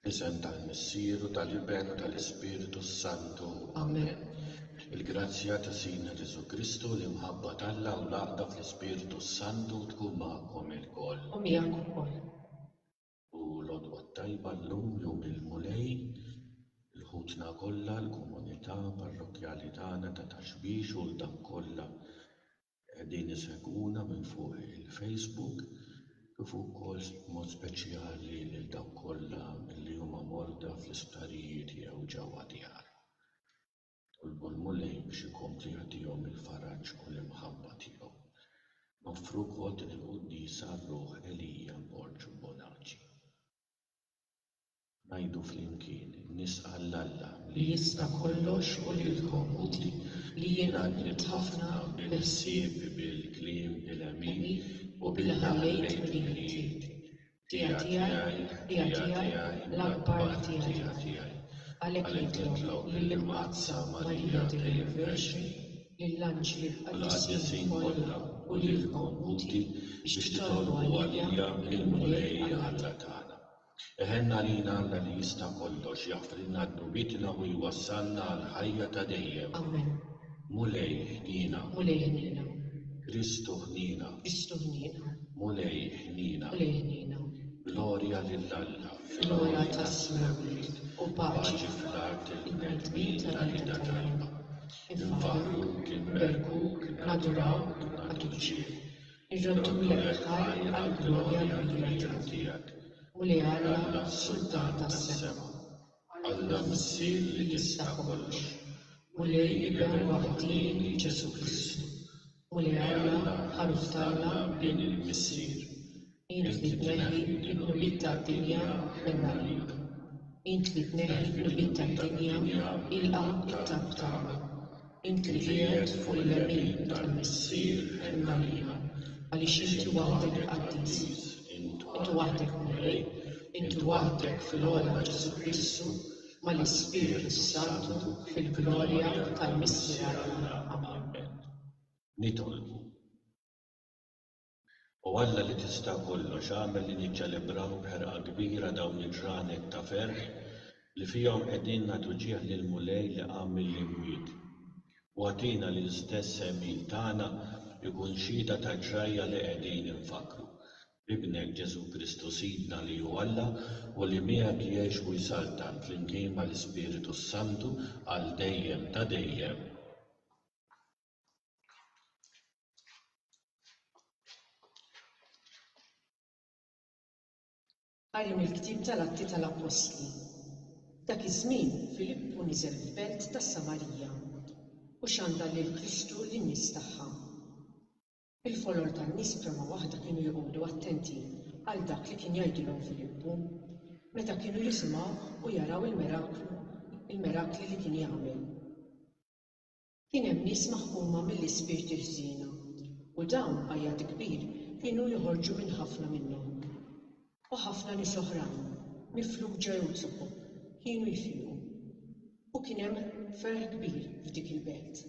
Fl-isem tal-Missier u tal-Iben u tal-Ispirtu s-Santu. Amen. Il-grazzja ta' Sidna Ġesù Kristu, l-imħabba t'Alla u l-għaqda fl-Ispirtu s-Santu tkun magħkom ilkoll. U miegħek ukoll. U l-Għodwa t-Tajba llum, Jum il-Mulej, il ħutna kollha, l-komunità parrokkjali tagħna ta' Taxbix u l-dawk kollha Qegħdin isegwuna minn fuq il-Facebook kif ukoll b'mod speċjali lil dawk kollha li huma morda fl-isptarijiet jew ġewwa djarhom. Nitolbu l-Mulej biex ikompli jagħtihom il-faraġ u l-imħabba tiegħu. Noffru wkoll din il-quddiesa r-ruħ Elija Borg Bonaci. Ngħidu flimkien, Nisqa' 'l Alla li jista' kollox u lilkom utli, li jien għaddiet ħafna bil-ħsieb, bil-kliem, bil-għemil u billi ħallejt mill-ħiliet tiegħi, tiegħi, tiegħi, l-akbar tiegħi, tiegħi. Għalhekk nitlob lill-Imqaddsa Marija dejjem Verġni, lill-anġli u l-qaddisin kollha u lilkom uti biex titolbu għalija mill-Mulej Alla tagħna. Iħenn għalina Alla li jista' kollox, jaħfrilna dnubietna u jwassalna għall-ħajja ta' dejjem. Amen. Mulej, ħniena. Mulej, ħniena. Kristu, ħniena. Kristu, ħniena. Mulej, ħniena. Mulej, ħniena. Glorja lil Alla fil-għoli tas-Smewwiet, u paċi fl-art lill-bnedmin tal-irda tajba. Infaħruk, inberkuk, nadrawk, nagħtuk ġieħ. Irreddulek ħajr għall-glorja kbira tiegħek, u li Alla, Sultan tas-sema, Alla Missier li jista' kollox, u li Iben waħdieni Ġesù Kristu, u li Alla, Ħaruf t'Alla, Bin il-Missier, int li tneħħi l-qnubiet tad-dinja, ħenna għalik. Int li tneħħi l-qnubiet tad-dinja, ilqa' t-talb tagħna. Inti li qiegħed fuq il-lemin tal-Missier għen għalina, għaliex inti waħdek qaddis, inti waħdek Mulej, inti waħdek fil-għola Ġesù Kristu mal-Ispirtu s-Santu fil-glorja tal-Missier għalina. Amen. Nitolbu. O Alla li Tista' Kollox, agħmel li niċċelebraw b'ħerqa kbira dawn il-ġranet ta' ferħ li fihom qegħdin nagħtu ġieħ lill-Mulej li qam mill-imwiet. U agħtina li l-istess għemil tagħna jkun xhieda taġ-ġrajja li qegħdin infakkru b'Ibnek, Ġesù Kristu Sidna, li hu Alla u li miegħek jgħix u jsaltan flimkien mal-Ispiritu s-Santu għal dejjem ta' dejjem. Qari mill-ktieb tal-Atti tal-Appostli F'dak iż-żmien Filippu niżel f'belt tas-Samarija u xandar lil Kristu lin-nies tagħha. Il-folor tan-nies b'fehma waħda kienu joqogħdu attenti għal dak li kien jgħidilhom Filippu meta kienu jisimgħuh u jaraw il-miraklu il-mirakli li kien jagħmel. Kien hemm nies maħkuma mill-ispirti ħżiena, u dawn, għajat kbir, kienu joħorġu minn ħafna minnhom. U ħafna nies oħrajn, mifluġa jew zuqu, kienu jfiqu. U kien hemm ferħ kbir f'dik il-belt.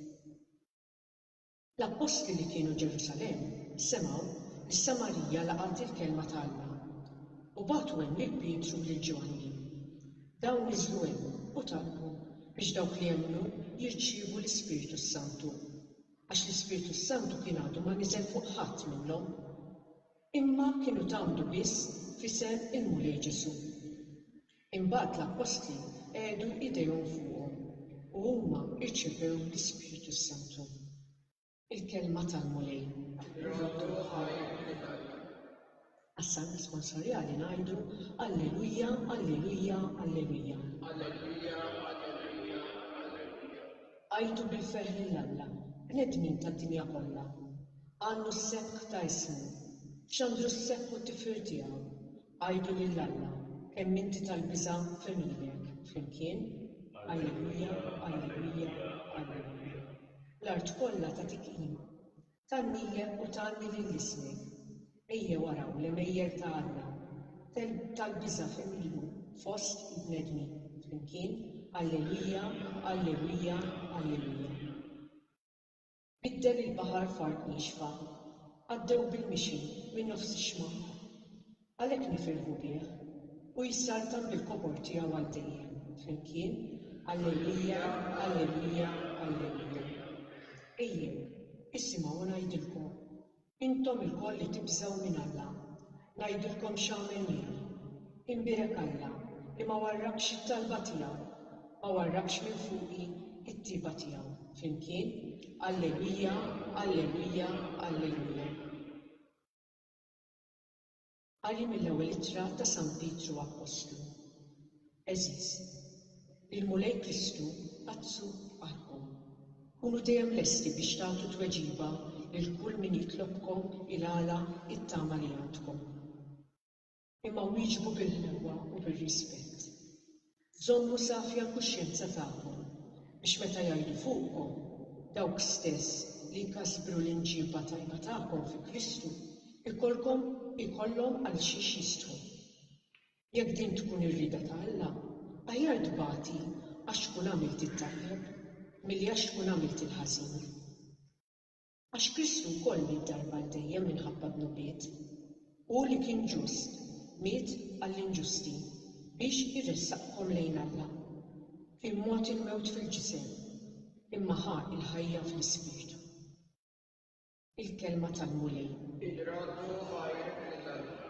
L-appostli li kienu Ġerusalemm semgħu li Samarija laqgħet il-kelma ta' Alla, u bagħtu hemm lil Pietru u lil Ġwanni. Dawn niżlu hemm u talbu biex dawk li emmnu jirċievu l-Ispirtu s-Santu, għax l-Ispirtu s-Santu kien għadu ma niżel fuq ħadd minnhom, imma kienu tgħammdu biss f'isem il-Mulej Ġesù. Imbagħad l-Appostli qegħdu idejhom fuqhom u huma rċevew l-Ispirtu s-Santu. Il-kelma tal-Mulej. Nroddu ħajr li tajna. Għas-Salm Responsorjali ngħidu, Alleluja, Alleluja, Alleluja. Alleluja, Alleluja, Alleluja. Għajtu bil-ferħ lil Alla, bnedmin tad-dinja kollha. Għannu s-sebħ ta' ismu. Xandru s-sebħ u t-tifħir tiegħu. Għidu lil Alla kemm inti tal-biża' f'għemilek, flimkien, Alleluja, alleluja, alleluja. L-art kollha tagħtik qima. Tgħannilek u tgħanni lil ismek. Ejjew araw l-għemejjel ta' Alla tal-biża' f'għemilu fost il-bnedmin, flimkien, Alleluja, alleluja, alleluja. Biddel il-baħar f'art niexfa. Għaddew bil-mixi minn nofs ix-xmara. Għalhekk nifirħu bih. Hu jissaltan bil-kobor tiegħu għal dejjem. Flimkien, Alleluja, alleluja, alleluja. Ejjew, isimgħu u ngħidilkom, Intom ilkoll li tibżgħu minn Alla, ngħidilkom x'għamel miegħi. Imbierek Alla li ma warrakx it-talba tiegħu, ma warrakx minn fuqi t-tjieba tiegħu. Flimkien, Alleluja, Alleluja, Alleluja. Qari mill-Ewwel Ittra ta' San Pietru Appostlu Għeżież, il-Mulej Kristu għattsu f'qalbkom. Kunu dejjem lesti biex tagħtu tweġiba lil kull min jitlobkom il-għala t-tama li għandkom. Imma wieġbu bil-ħlewwa u bir-rispett. Żommu safja l-kuxjenza tagħkom, biex meta jgħidu fuqkom, Dawk stess li jkasbru l-imġiba tajba tagħkom fi Kristu, ikollkom, ikollhom għal xiex jistħu. Jekk din tkun ir-rieda ta' Alla, aħjar tbati għax tkun għamilt it-tajjeb, milli għax tkun għamilt il-ħażin. Għax Kristu wkoll miet darba għal dejjem minħabba d-dnubiet. Hu li kien ġust, miet għall-inġusti, biex iressaqkom lejn Alla. Kien mogħti l-mewt fil-ġisem, imma ħa l-ħajja fl-ispirtu. Il-Kelma tal-Mulej. Irraddu ħajr lil Alla.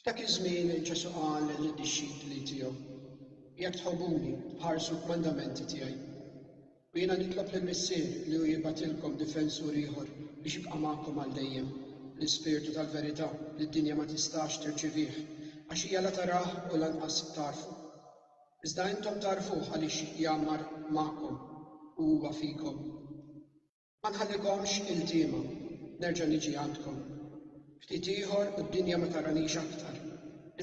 F'dak iż-żmien Ġesù qal lid-dixxipli tiegħu, Jekk tħobbuni, ħarsu l-kmandamenti tiegħi. U jiena nitlob lill-Missier li hu jibgħatilkom difensur ieħor biex jibqa' magħkom għal dejjem, l-Ispirtu tal-verità li d-dinja ma tistax tirċivih, għax hija la tarah u lanqas tagħrfu. Iżda intom tagħrfuh għaliex jgħammar magħkom u huwa fikom. Ma nħallikomx iltiema, nerġa' niġi għandkom. Ftit ieħor u d-dinja ma taranix aktar,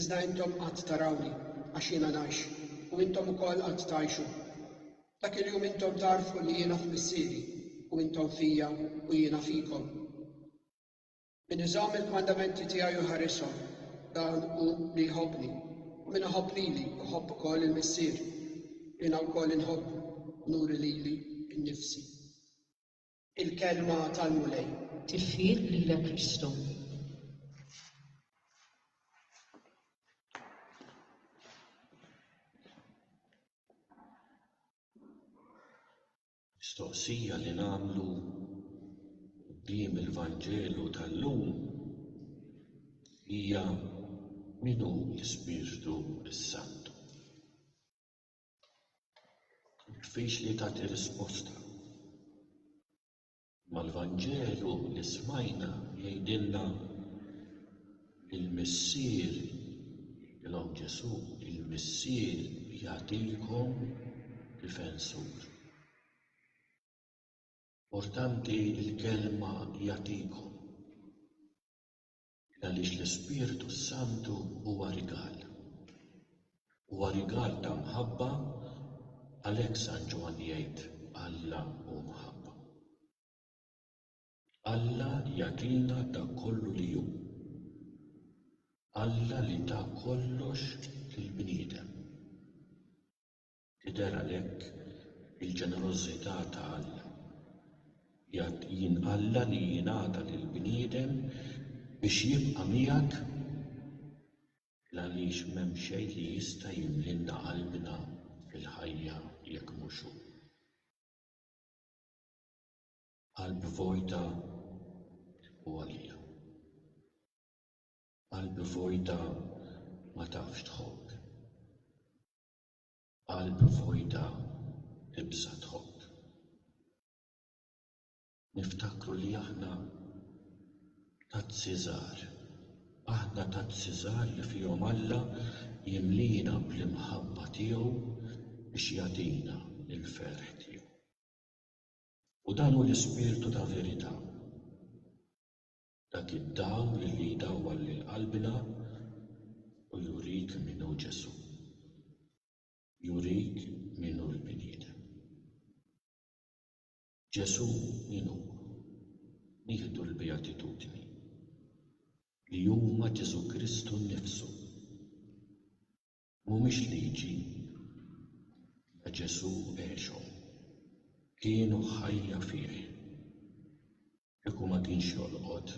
iżda intom għad tarawni, għax jiena ngħix, u intom ukoll għad tgħixu. Dak il-jum intom tagħrfu li jiena f'Missieri, u intom fija u jiena fikom. Min iżomm il-kmandamenti tiegħi u jħarishom, dan hu li jħobbni, u min iħobb lili jħobb ukoll il-Missier. Jiena wkoll inħobbu u nuri lili nnifsi. Il-Kelma tal-Mulej. Tifħir lilek Kristu. Mistoqsija li nagħmlu quddiem il-Vanġelu tal-lum hija min hu l-Ispirtu s-Santu? Diffiċli tagħti risposta. Ma l-Vanġelu li smajna jgħidilna li l-Missier, jgħidilhom Ġesù, il-Missier jagħtikom difensur. Importanti l-kelma jagħtikom. Għaliex l-Ispirtu s-Santu huwa rigal. Huwa rigal ta' mħabba, għalhekk San Ġwann jgħid Alla hu mħabba. Alla jagħtina dak kollu li hu. Alla li ta kollox lill-bniedem. Tidher għalhekk il-ġenerożità ta' Alla. Jgħid jien Alla li jingħata lill-bniedem biex jibqa' miegħek l-għaliex m'hemm xejn li jista' jimlilna qalbna fil-ħajja jekk mhux hu. Qalb vojta u għolja. Qalb vojta ma tafx tħobb. Qalb vojta ibża' tħobb. Niftakru li aħna tazzi żgħar. Aħna tazzi żgħar li fihom Alla jimliena bl-imħabba tiegħu biex jagħtina l-ferħ tiegħu. U dan hu l-ispirtu ta' verità. Dak id-dawl li jdawwal lil qalbna u jurik min hu Ġesù. Jurik min hu l-bniedem. Ġesù min hu? Nieħdu l-Beatitudni li huma Ġesù Kristu nnifsu. Mhumiex liġi, la Ġesù għexhom, kienu ħajja fih. Kieku ma kienx jolqot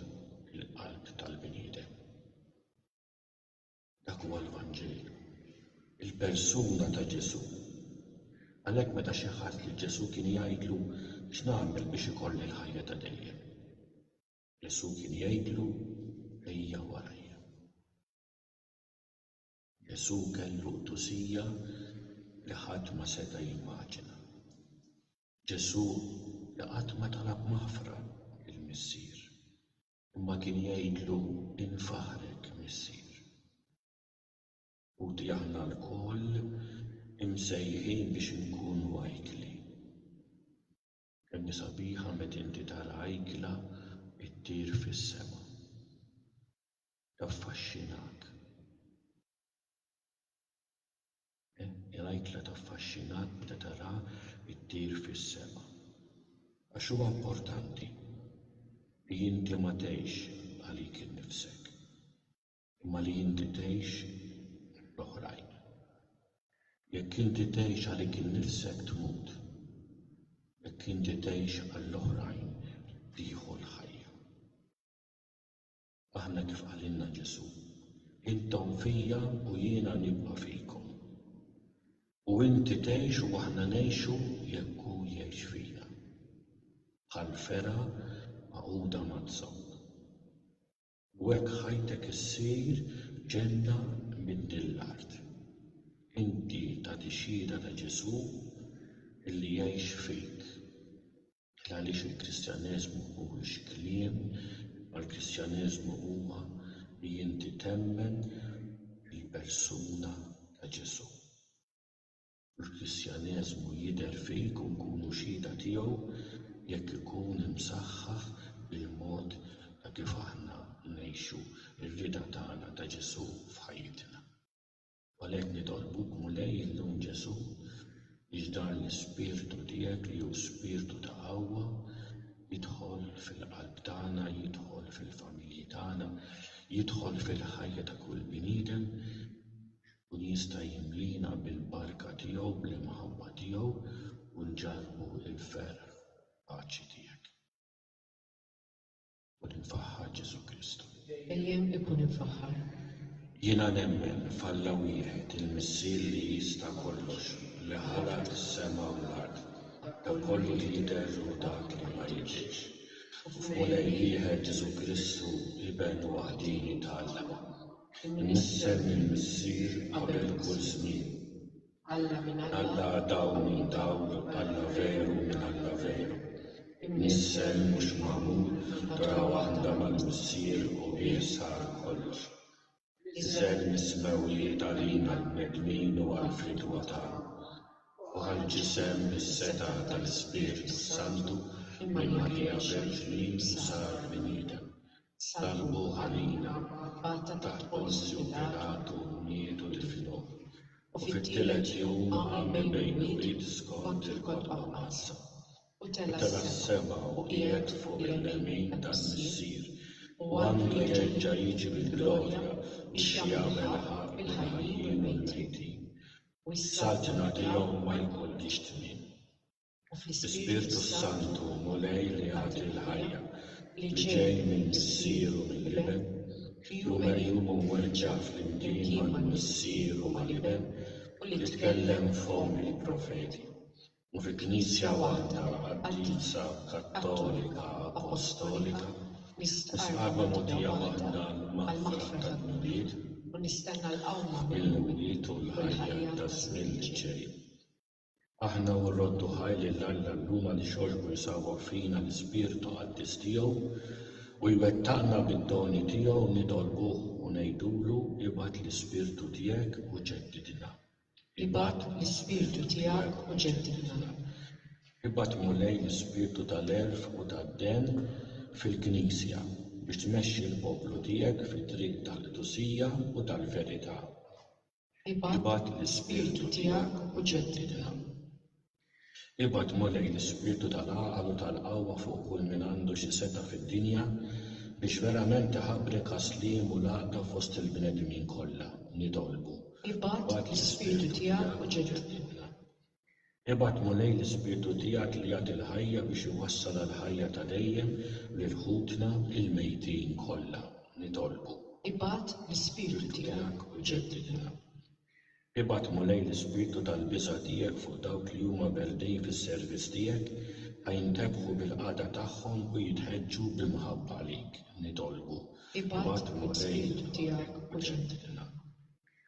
il-qalb tal-bniedem. Dak huwa l-Vanġel, il-persuna ta' Ġesù. Għalhekk meta xi ħadd lil Ġesù kien jgħidlu, X'nagħmel biex ikolli l-ħajja ta' dejjem? Ġesù kien jgħidlu, Ejja warajja. Ġesù kellu qdusija li ħadd ma seta' jimmaġina. Ġesù li qatt ma talab maħfra lill-Missier, imma kien jgħidlu infaħrek Missier. Ħuti aħna lkoll imsejħin biex inkunu ajkli. Kemmi sabiħa met inti tara ajkla ttir fis-sema. Taffaxxinak. Kemmi l-ajkla taffaxxinak meta taraha ttir fis-sema. Għax huwa importanti li inti ma tgħix għalik innifsek. imma li inti tgħix l-oħrajn. Jekk inti tgħix għalik innifsek tmut, jekk inti tgħix għall-oħrajn tieħu l-ħajja. Aħna kif qalilna Ġesù, intom fija u jiena nibqa' fikom. U inti tgħix u aħna ngħixu jekk hu jgħix fina. Bħal fera magħquda mazzok. U hekk ħajtek issir ġenna minn din l-art. Inti tagħti xhieda ta' Ġesù li jgħix fik. Il għaliex il-Kristjaneżmu mhuwiex kliem, imma l-Kristjaneżmu huwa li inti temmen fil-persuna ta' Ġesù. l-Kristjaneżmu jidher fik u nkunu xhieda tiegħu jekk ikun imsaħħaħ bil-mod ta' kif aħna ngħixu r-rieda tagħna ta' Ġesù f'ħajjitna. U għalhekk nitolbuk, Mulej, illum Ġesù, biex dan l-ispirtu tiegħek li hu spirtu ta' qawwa jidħol fil-qalb tagħna, jidħol fil-familji tagħna, jidħol fil-ħajja ta' kull bniedem u jista' jimliena bil-barka tiegħu bl-imħabba tiegħu u nġarrbu l-ferħ fil-paċi tiegħek. Ikun imfaħħar Ġesù Kristu. Dejjem ikun imfaħħar. Jiena nemmen f'Alla wieħed, il-Missier li jista' kollox, li ħalaq is-sema u l-art, dak kollu li jidher u dak li ma jidhirx, u f'Mulej wieħed Ġesù Kristu, Iben waħdieni t'Alla. Imnissel mill-Missier qabel kull żmien. Alla minn Alla, dawl minn dawl, Alla veru minn Alla veru. Imnissel mhux magħmul, ħdra waħda mal-Missier u bih sar kollox. Iżel mis-smewwiet għalina l-bnedmin u għall-fridwa tagħna. U ħall-ġisem bis-setgħa tal-Ispirtu s-Santu, minn Marija Verġni u sar bniedem. Salvu għalina, Abbat ta' Pontju Pilatu niedu tiflu, u fit-tielet jum għamel bejn il-bid skont il-kotba mqaddsa, u tela' s-sema u qiegħed fuq il-lemin tal-Missier, u għandu jerġa' jiġi bi glorja biex jagħmel ħaqq lill-ħajjin u l-mejtin, u s-saltna tiegħu ma jkollhiex tmiem. L-Ispirtu s-Santu hu Mulej li jagħti l-ħajja, li ġej minn Missier u mill-Iben, li hu merjum u mweġġa' flimkien mal-Missier u mal-Iben u li tkellem b'fomm il-profeti, u fi Knisja waħda qaddisa, kattolika, apostolika, nistqarr mogħdija waħda għall-maħfra tad-dnubiet, mill-mwiet u l-ħajja taż-żmien li ġej. Aħna u rroddu ħaj lil Alla llum għaliex għoġbu jsawwar fina l-Ispirtu Qaddis tiegħu u jwettaqna bid-doni tiegħu nitolbuh u ngħidulu ibgħat l-Ispirtu tiegħek u ġeddidna. Ibgħat l-Ispirtu tiegħek u ġeddidna. Ibgħat Mulej l-Ispirtu tal-għerf u tad-dehn fil-Knisja biex tmexxi l-poplu tiegħek fit-triq tal-qdusija u tal-verità. Ibgħat l-Ispirtu tiegħek u ġeddidha. Ibgħat, Mulej, l-ispirtu tal-għaqal u tal-qawwa fuq kull min għandu xi setgħa fid-dinja, biex verament iħabrek għas-sliem u l-għaqda fost il-bnedmin kollha, nitolbu. Ibgħat l-Ispirtu tiegħek u ġeddidna. Ibgħat, Mulej, l-Ispirtu tiegħek li jagħti l-ħajja biex iwassal għall-ħajja ta' dejjem lil ħutna l-mejtin kollha. Nitolbu. Ibgħat, l-Ispirtu tiegħek, u ġeddidna. Ibgħat, Mulej, l-Ispirtu tal-biża' tiegħek fuq dawk li huma berdin fis-servizz tiegħek, ħa jintebħu bil-qagħda tagħhom u jitħeġġu b'imħabba għalik. Nitolbu. Ibgħat, l-Ispirtu tiegħek, u ġeddidna.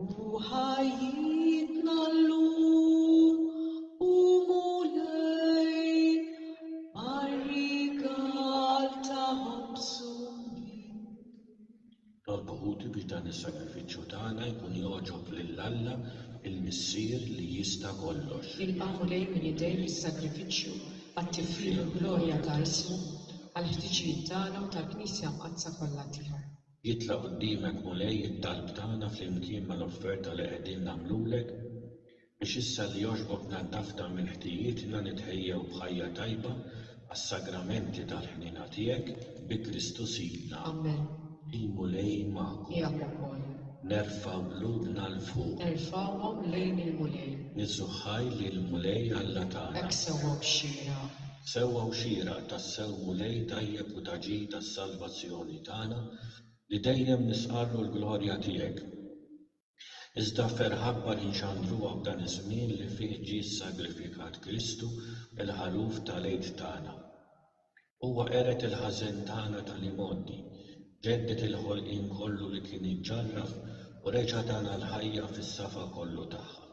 U ħajjitna llum, O Mulej, mar-rigal ta' ħobżu minnek. Orbħuli biex dan is-sagrifiċċju tagħna jkun jogħġob lil Alla, il-Missier li jista' kollox. Ilqa', Mulej, minn idejk is-sagrifiċċju għat-tifħir u l-glorja ta' ismu, għall-ħtiġijiet tagħna u tal-Knisja Mqaddsa kollha tiegħek. Jitla' qudiemek Mulej it-talb tagħna flimkien mal-offerta li qegħdin nagħmlulek biex issa li għoxbok naddafta minn ħtijietna nitħejjew b'ħajja tajba għas-sagramenti tal-ħniena tiegħek, bi Kristu Sidna. Amen. Il-Mulej magħkom. Miegħek ukoll. Nerfgħu qlubna 'l fuq. Erfgħuhom lejn il-Mulej. Niżżuħħaj lill-Mulej Alla tagħna. Hekk sewwa b'xieraq. Sewwa u xieraq tassew Mulej tajjeb u ta' ġid għas-salvazzjoni tagħna li dejjem nisqarlu l-glorja tiegħek. Iżda ferħ akbar inxandruha f'dan iż-żmien li fih ġie ssagrifikat Kristu, il-Ħaluf tal-Għid tagħna. Huwa qered il-ħażen tagħna tal-imgħoddi, ġedded il-ħolqien kollu li kien iġġarraf u reġa' tana l-ħajja fis-safa kollu tagħha.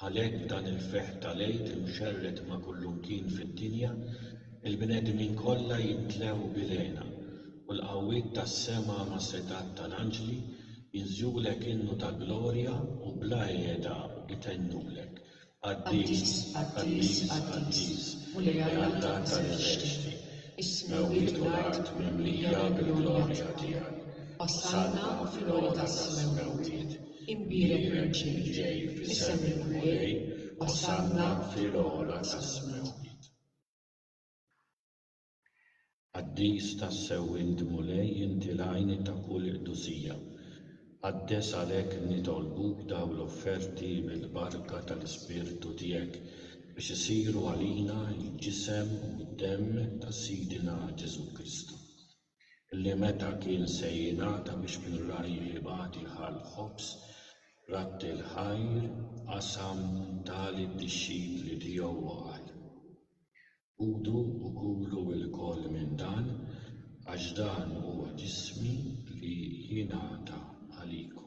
Għalhekk b'dan il-ferħ tal-Għid imxerred ma' kullumkien fid-dinja, il-bnedmin kollha jimtlew bil-hena, u l-qawwiet tas-sema mas-setgħat tal-anġli jinżulek innu ta' glorja u bla qiegħda itennulek, Qaddis, qaddis, qaddis, Mulej Alla tal-eżerċti, is-smewwiet u l-art mimlija bil-glorja tiegħek, osanna fl-għoli tas-smewwiet. Imbierek Merċi li ġej f'isem il-Mulej, Osanna fil-ogħla tas-smewwiet. Qaddis tassew int Mulej inti l-għajn ta' kull qdusija. Qaddes għalhekk nitolbuk dawn l-offerti bil-barka tal-Ispirtu tiegħek biex isiru għalina l-ġisem u d-demm ta' Sidina Ġesù Kristu. li meta kien se jingħata biex minn ragħajh ibgħat iħall ħobż, ratti l-ħajr, qasam ta lid-dixxipli tiegħu u qal, Ħudu u kulu lkoll minn dan, għax dan huwa ġismi li jingħata għalikom.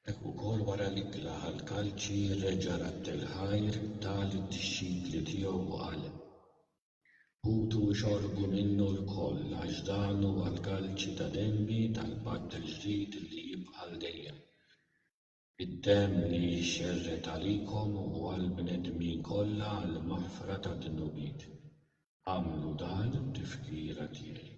Hekk ukoll wara li qlagħ l-kalċi reġa' radd il-ħajr, ta lid-dixxipli tiegħu u qal, Ħutu u xorbu minnu lkoll, għax dan huwa l-kalċi ta' demmi tal-patt il-ġdid li jibqa' għal dejjem. Id-demm li jixxerred għalikom u għall-bnedmin kollha għall-maħfra tad-dnubiet. Agħmlu dan tifkira tiegħi.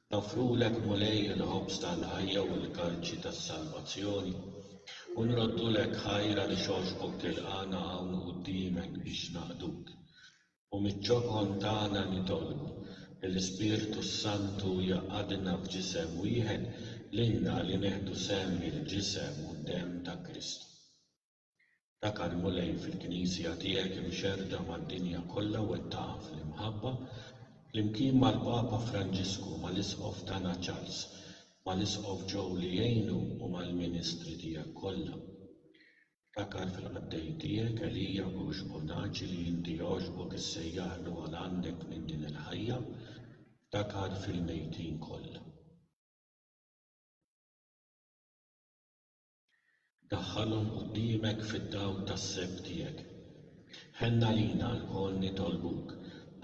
Noffrulek, Mulej, il-ħobż tal-ħajja u l-kalċi tas-salvazzjoni, u nroddulek ħajra li xogħxbok tilqagħna hawn quddiemek biex naqduk. U miċ-ċokon tagħna nitolbu li l-Ispirtu s-Santu jgħaqqadna f'ġisem wieħed lilna li neħdu sehem mill-ġisem u d-demm ta' Kristu. Dak għall-Mulej fil-Knisja tiegħek imxerrda mad-dinja kollha wettaqha fl-imħabba, flimkien mal-Papa Franġisku, mal-Isqof tagħna Charles, mal-Isqof Joe li jgħinu u mal-ministri tiegħek kollha. Ftakar fil-qaddej tiegħek Elia Bush Bonaci li inti għoġbok issejjaħlu għal għandek minn din il-ħajja. Ftakar fil-mejtin kollha. Daħħalhom quddiemek fid-dawl tas-seb tiegħek. Ħenn għalina lkoll nitolbuk,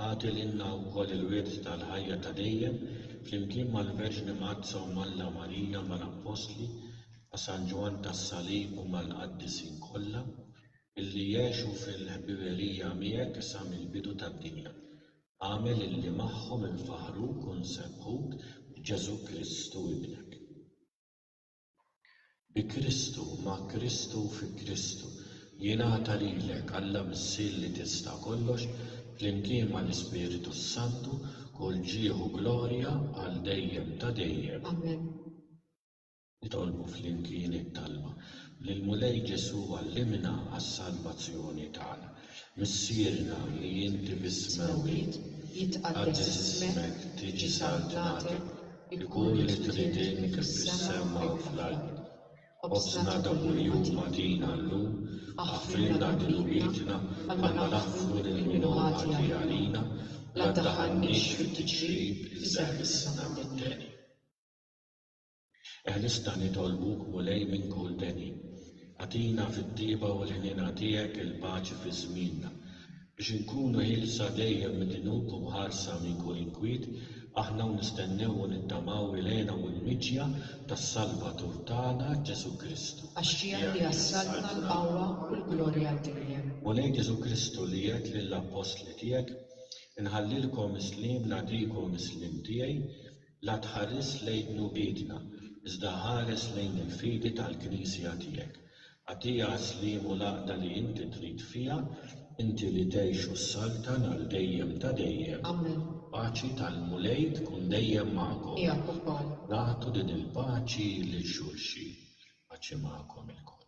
agħti lilna wkoll il-wirt tal-ħajja ta' dejjem flimkien mal-Verġni Mgħaddsa u m'Alla Marija, mal-Appostli, ma' San Ġwann tas-Salib u mal-Qaddisin kollha, illi għexu fil-ħbiberija miegħek sa mill-bidu tad-dinja. Agħmel illi magħhom infaħruk u nsebbħuk b'Ġesù Kristu Ibnek. Bi Kristu, ma' Kristu u fi Kristu, jingħata lilek, Alla Missier li tista' kollox, flimkien mal-Ispirtu s-Santu, kull ġieħ u glorja għal dejjem ta' dejjem. Amen. Nitolbu flimkien it-talba lill-Mulej Ġesù għallimna għas-salvazzjoni tagħna. Missierna li inti biss mewwit, jitqaddes ismek, tiġi saltnate, ikun li trid int fis-sema u fl-art. Qobżna ta' kuljum agħtina llum, aħfrilna dnubietna bħalma naħfru lil min hu ħati għalina, la ddaħħalniex fit-tiġrib, iżda ħlisna mit-teni. Eħlisna nitolbuk, Mulej, minn kull deni. Agħtina fit-tjieba u l-ħniena tiegħek il-paċi fi żmienna. Biex inkunu ħielsa dejjem mid-dnub u mħarsa minn kull inkwiet, aħna u nistennew u nittamaw il-hena u l-miġja tas-Salvatur tagħna, Ġesù Kristu. Għax tiegħek hija s-saltna, l-qawwa u l-glorja għal dejjem. Mulej Ġesù Kristu li għedt lill-appostli tiegħek, Inħallilkom is-sliem, nagħtikom is-sliem tiegħi, La tħares lejn dnubietna, iżda ħares lejn il-fidi tal-Knisja tiegħek. Agħtiha s-sliem u l-għaqda li inti trid fiha, inti li tgħix u ssaltan għal dejjem ta' dejjem. Amen. Paċi tal-Mulej tkun dejjem magħkom. Miegħek ukoll. Nagħtu din il-paċi lil xulxin. Paċi magħkom ilkoll.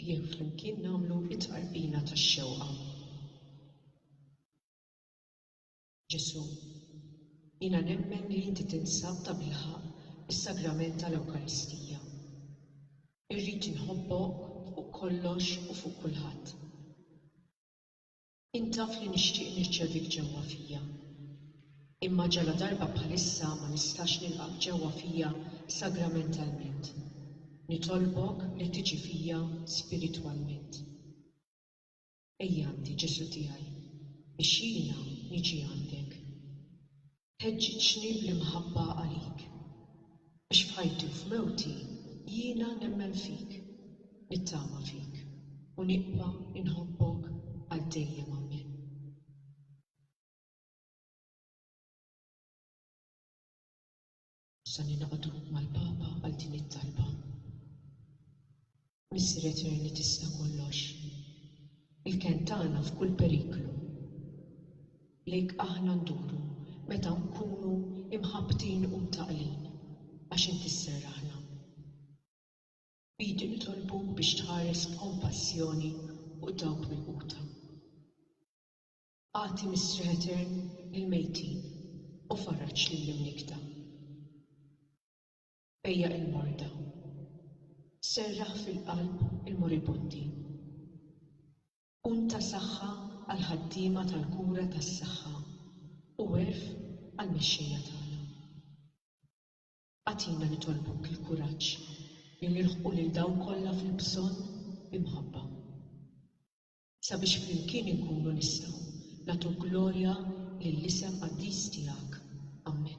Ejjew flimkien nagħmlu t-tqarbina tax-xewqa. Ġesù, jiena nemmen li inti tinsab tabilħaqq fis-Sagrament tal-Ewkaristija. Irrid inħobbok fuq kollox u fuq kulħadd. Int taf li nixtieq nirċevik ġewwa fija. Imma ġaladarba bħalissa ma nistax nilqgħek ġewwa fija sagramentalment, nitolbok li tiġi fija spiritwalment. Ejja għandi, Ġesù tiegħi, biex jiena niġi għandek. Ħeġġiġni bl-imħabba għalik, biex f'ħajti u f'mewti jiena nemmen fik, nittama fik u nibqa' inħobbok għal dejjem. Amen. Se ningħaqdu mal-Papa għal din it-talba. Missier Etern li tista' kollox, il-kenn tagħna f'kull periklu, lejk aħna nduru meta nkunu imħabbtin u mtaqqlin, għax Inti sserraħna. B'idi nitolbuk biex tħares b'kompassjoni fuq dawk milquta. Agħti mistrieħ etern lill-mejtin u farraġ lill-imnikkta. Bejja' il-morda. Serraħ fil-qalb il-moribundi. Kun ta' saħħa għall-ħaddiema tal-kura tas-saħħa u għerf għall-mexxejja tagħna. Agħtina nitolbuk il-kuraġġ li nilħqu lil dawk kollha fil-bżonn bi mħabba. sabiex flimkien inkunu nistgħu nagħtu glorja lill-isem qaddis tiegħek. Ammen.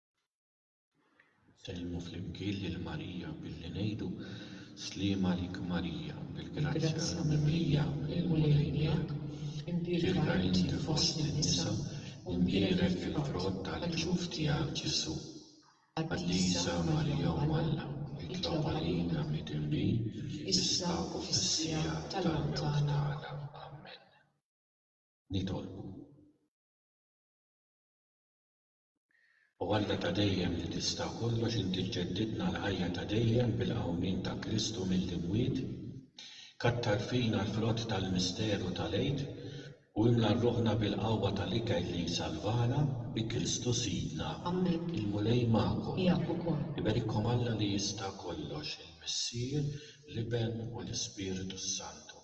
Nsellmu flimkien lil Marija billi ngħidu, Sliem għalik Marija, bil-grazzja mimlija, il-Mulej miegħek. Imbierka inti fost in-nisa, u mbierek il-frott tal-ġuf tiegħek Ġesù. Qaddisa Marija Omm Alla, itlob għalina midinbin, issa u fis-siegħa tal-mewt tagħna. Ammen. Nitolbu. O Alla ta' dejjem li tista' kollox inti ġġeddidna l-ħajja ta' dejjem bil-qawmien ta' Kristu mill-imwiet, kattar fina l-frott tal-misteru tal-Għid u imla rruħna bil-qawwa tal-ikel li jsalvana, bi Kristu Sidna. Amen. Il-Mulej magħkom. Miegħek ukoll. Iberikkom Alla li jista' kollox, il-Missier, l-Iben u l-Ispirtu s-Santu.